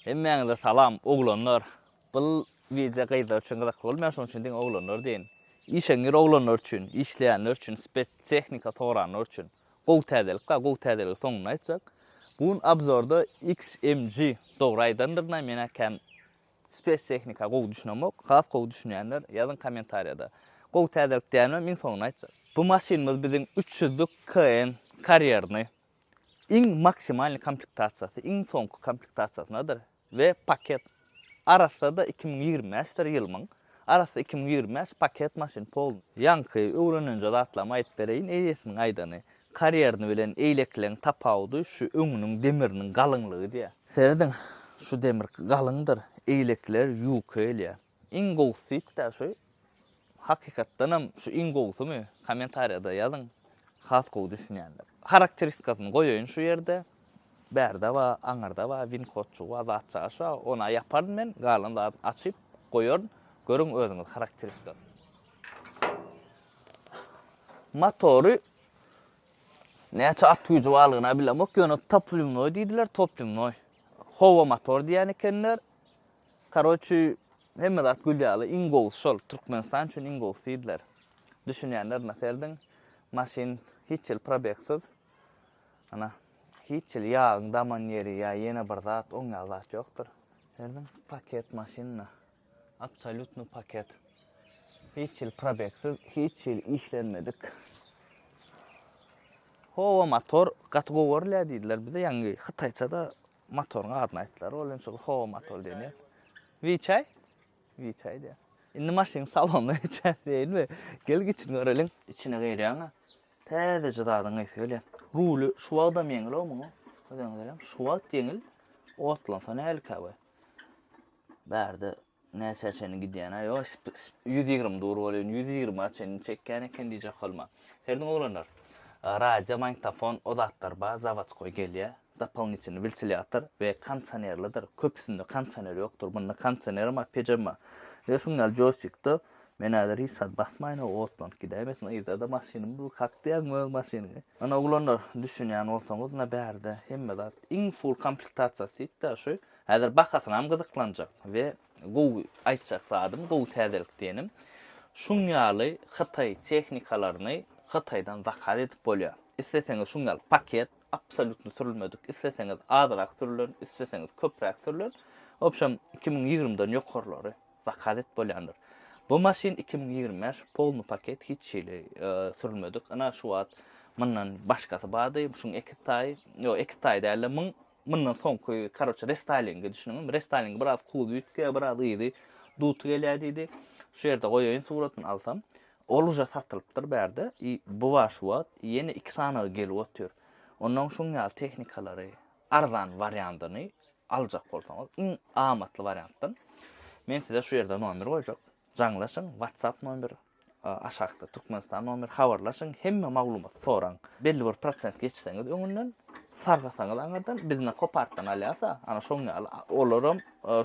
Hemmäňize salam oglanlar. Bul wideo gyzlar üçin gyzykly bolmaýar şonuň üçin diňe oglanlar deýin. Işeňňir oglanlar üçin, işleýänler üçin, spes tehnika soranlar üçin. Gowy täzelik bar, gowy täzeligi soňunda aýtjak. Bu gün obzorda XMG dogry aýdandyrna menä kän spes tehnika gowy düşünemok. Has gowy düşünýänler ýazyň kommentariýada. Gowy täzelik diýäýmem iň soňunda aýtjak. Bu maşynymyz biziň üç ýüzlük KN karýerny Iň maksimalny komplektasiýasy iň soňky komplektasiýasynadyr we paket arassa-da iki müň ýigrimi bäşdir ýylmyň arassa iki müň ýigrimi bäş paket maşyn polny. Ýaňky öwrenenje zatlamy aýyp bereýin eýesiniň aýdany karýerny bilen eýlekleň tapawudy şu öňüniň demiriniň galyňlygy diýýä. Serediň şu demir galyňdyr eýlekler ýuka gelýä iň gowusy diýipdä şu Hakykatdanam şu iň gowusymy? Kommentariýada ýazyň. Has gowy düşünýänler. Harakteristikasyny goýaýyn şu ýerde. Bärde bar, aňyrda bar, win kodjygy bar, zat çagyş bar. Ony-a ýaparyn men, galan zadyny açyp goýaryn. Görüň özüňiz harakteristikasyny. Motory näçe at güýji barlygyny-a bilemok, ýöne toplimnoý diýdiler, toplimnoý. Howa motor diýen ekenler. Karoçi hemme zat gül ýaly iň gowusy şol Türkmenistan üçin iň gowusy diýdiler. Düşünýänler ina serdin maşyn hiç ýyl probegsiz ina hiç ýyl ýagyň daman ýeri ýa ýene bir zat oň ýaly zat ýokdur. Serdin paket maşyn ina absolýutny paket hiç ýyl probegsiz hiç ýyl işlenmedik. Howa motor gaty gowy görülýär diýdiler bize ýaňy hytaýçada Motoryň adyny aýtdylar. Ol indi şol Ho motor diýilýär. Wiçaý? Wiçaý diýýär. Indi maşynyň salonyna geçäýinmi? Gel giçini göreliň. Içine girýäň-ä. Täzeje zadyň geýsi gelýär. Ruly şu wagtam ýeňil-ow muň. Özüňiz görýäňiz, şu wagt ýeňil. Otlansa nähilikä we bärde Näçä çenli gidýän-ä? Ýo, ýüz ýigrimi dur bolýan, ýüz ýigrimi-ä çenli çekýän eken diýjek bolma. Hernä oglanlar? Radio, magnitofon, o zatlar bar, zawodskoý gelýär. Dopolnitelny wiltilýator we kondisionerlidir. Köpüsinde kondisioner ýokdur. Munda kondisionerem bar, pejam bar. Ýa şuň ýaly joýstikdir. Men häzir hiç zat basmaýyn-ow, otlanyp gidäýmesin. Yzda-da maşynym dur. Kakdýaň öz maşynyňy? Ana, oglanlar, düşünýän bolsaňyz, ine, bärde hemme zat. Iň full komplektasiýasy diýip-de şu Häzir bahasynam gyzyklanjak we gowy aýtjak zadym, gowy täzelik diýenim, şuň ýaly hytaý tehnikalaryny Hytaýdan zakaz edip bolýar. Isleseňiz şuň ýaly paket, absolýutno sürülmedik, isleseňiz azrak sürülen, isleseňiz köpräk sürülen, obşem iki müň ýigrimi dan ýokarlary zakaz edip bolýandyr. Bu maşyn iki müň ýigrimi bäş polny paket hiç hili sürülmedik, ynha şu wagt mundan başgasy bardy, şuň eki taýy, ýok eki taýy dälde müň Mundan soňky karoçe restaýlinge düşüniňiz. Restaýlinge biraz kuzy üýtge, biraz yzy duty gelýär diýdi. Şu ýerde goýaýyn suratyny alsam. Ol uja satylypdyr bärde. I bu wa şu wagt ýene iki sanaga gelip otyr. Onnoň şuň ýaly tehnikalary arzan wariandyny aljak bolsaňyz iň amatly wariantdan. Men size şu ýerde nomer goýjak. Jaňlaşyň WhatsApp nomer aşakda Türkmenistan nomer habarlaşyň hemme maglumat soraň belli bir prosent geçseňiz öňünden sargasaňyz aňardan biz na kopartdan alýasa ana şoň ýaly olaram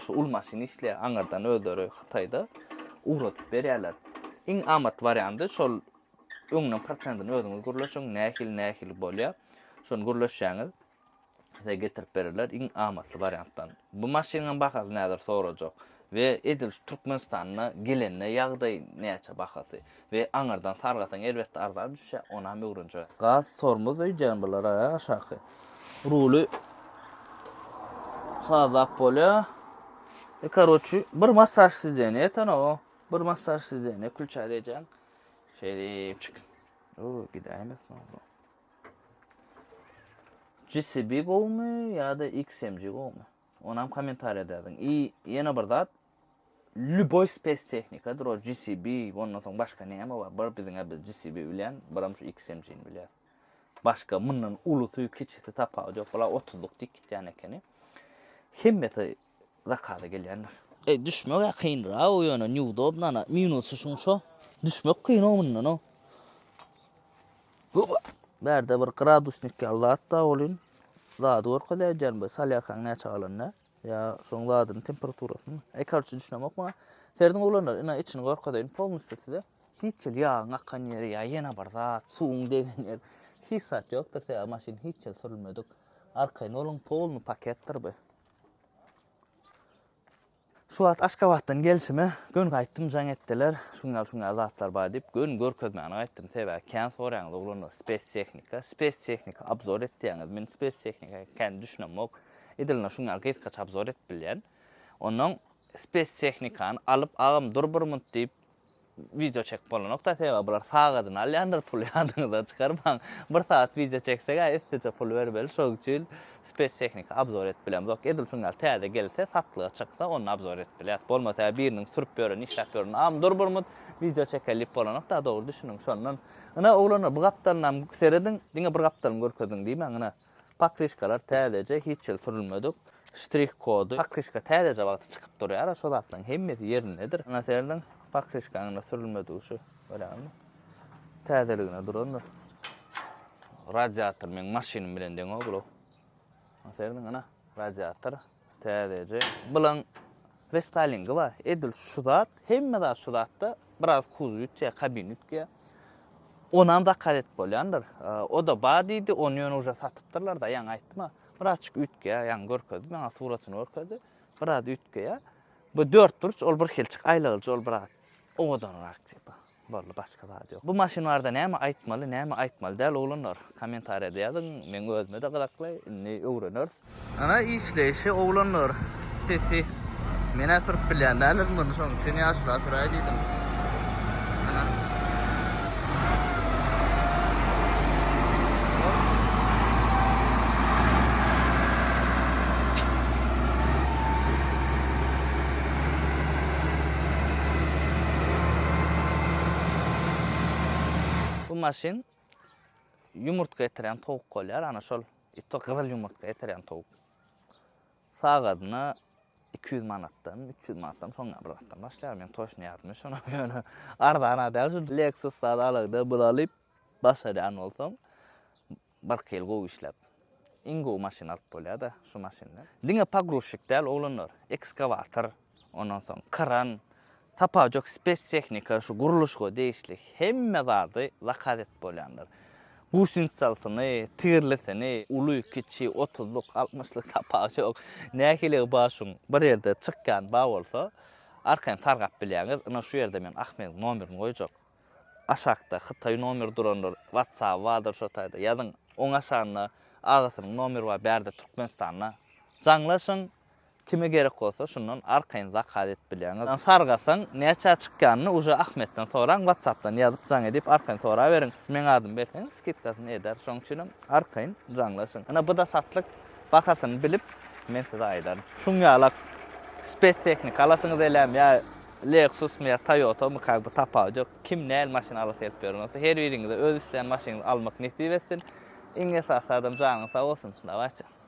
şu ul maşyn işleýär aňardan özleri hytaýda ugradyp berýärler iň amat wariandy şol öňden prosentini özüňiz gürleşiň nähili nähili bolýar şony gürleşýäňiz size getirip bererler iň amatly wariantdan. Bu maşynyň bahasy nädir sorajak we edil şu Türkmenistana gelende ýagdaý näçe bahasy we aňyrdan sargasaň elbetde arzan düşýä onam öwrenjek. Gaz tormoz öýdýän bular a aşaky. Ruly sazlap bolýa. E karoçi bir massaj sizeni eten o. Bir massaj sizeni külçä deýjäň. Şeýdip çyk. O gidäýmesin o. GCB gowumy ýa-da XMG gowumy? Onam kommentariýada ýazyň. I ýene bir zat, lüboý spes tehnikadyr o GCB, ondan soň başga näme bar? Bir biziňe biz GCB bilýän, biram şu XMG-ni bilýäs. Başga mundan ulusy, kiçisi tapawudy ýok. Bular 30-lyk dik gitýän ekeni. Hemmesi zakady gelýändir. Eý düşmegä kynrago ýöne neudobno ana minusy şuň şo düşmek kyno mundano. Baba bärde bir gradusnik ýaly zat bar welin zady görkezäýjän be salýarkaň näçe galanda ýa şoň zadyny temperaturasyny eý karçe düşünemok maňa serdin oglanlar ina içini görkezeýin polnusty size hiç ýyl ýagyň akan ýeri ýa ýene bir zat suwuň degen ýer hiç zat ýokdur sebäbi maşyn hiç ýyl sürülmedik arkaýyn boluň polny paketdir be Şu wagt Aşgabatdan gelşime göni gaýtdym jaň etdiler, şunýaly şunýaly zatlar bar diýip göni görkezmäne gaýtdym, sebäbi kän soraýaňyz oglanlar spes tehnika, spes tehnika abzor et diýýäňiz, men spes tehnika kän düşünemok, edilne şunýaly gysgaça abzor edip bilýän, onnoň spes tehnikany alyp agam dur bir munt diýip, Wideo çekip bolanokda sebäbi bular sagadyny alýandyr pul ýadyňyzdan çykarmaň. Bir sagat wideo çeksegä üstüje pul bermeli şoň üçin spes tehnika abzor edip bilemzok. Edil şuň ýaly täze gelse satlyga çyksa onda abzor edip bilýäs. Bolmasa biriniň sürüp ýören işläp ýören am dur bir mut wideo çekel diýip bolanokda dogry düşüniň şondan. Ine oglanlar bu gapdalynam serediň diňe bir gapdalyny görkeziň diýmäň ine. Pokryşkalar täzeje, hiç ýyl sürülmedik. Ştrih kody. Pokryşka täzeje wagty çykyp durýar-a, şo zatlaryň hemmesi ýerindedir. Ýa-da serediň, pokryşkaň-da sürülmedigi şu, görýäňmi? Täzeligine durandyr. Radiator meň maşynym bilen deň-ow bulaw. Ýa-da serediň, ana, radiator. Täzeje. Bulan restylingi bar. Edil şu zat, hemme zat şu zatda. Biraz kuz ütýär, kabin ütýär. Onam zakaz et bolýandyr. O da bar diýdi, ony ýöne uja satypdyrlar da, ýaňy aýtdyma. Birazçyk ütgeýär, ýaňy görkezdi, maňa suratyny görkezdi. Biraz ütgeýär. Bu dörtburç, ol birhilçik aýlagyjy, ol biraz. Owadanrak tipa. Boldy başka zat yok. Bu maşyn barada näme aýtmaly näme aýtmaly däl oglanlar komentariýada ýazyň meň özümede gyzakly indi öwreneris. Ana işleýşi oglanlar sesi menä sürüp bilýän däldirin muny şoň üçin ýaşula süräý diýdim. Bu maşyn ýumurtga ýetiren towuk bolýar, ana şol ýüztük gyzyl ýumurtga ýetiren towuk. Sagadyna iki ýüz manatdan, üç ýüz manatdan, soň bir zatdan başlaýar. Men toşny ýadymy, şonam ýöne arzan-a däl. Şu Lexus zat alagda bir alyp başarýan bolsaň, birki ýyl gowy işläp, iň gowy maşyn alyp bolýar-da şu maşyndan. Diňe pogruzçik däl, oglanlar, ekskawator, ondan soň kran, sapajok spestehnika, şu gurluşyga degişli hemme zady zakaz edip bolýandyr. Gusinsalsyny, tigirlisini, uly, kiçi, otuzlyk, altmyşlyk tapawjok. Nähiligi bar şuň bir ýerde çykýany bar bolsa, arkaýyn sargap bilýäňiz. Ynha şu ýerde men Ahmediň nomerini goýjak. Aşakda hytaý nomeri durandyr, whatsaby bardyr şo taýda ýazyň. Oň aşagynda agasynyň nomeri bar bärde Türkmenistanda. Jaňlaşyň, Kime gerek bolsa şundan arkaýyn zakaz edip bilýäňiz. Sargasaň näçä çykýanyny uje Ahmetden soraň watsapdan ýazyp jaň edip arkaýyn soraberiň. Meň adymy berseň skidkasyny eder. Şoň üçinem arkaýyn jaňlaşyň. Ine buda satlyk bahasyny bilip men size aýdaryn. Şuň ýalak spes tehnika alasyňyz elem ýa Lexusmy ýa Toyotamy kak bu tapawut ýok. Kim näl maşyn alasy gelip ýören bolsa her biriňize öz islän maşynyňyzy almak nesip etsin. Iň esasy zadam janyňyz sag bolsun. Dawaçi.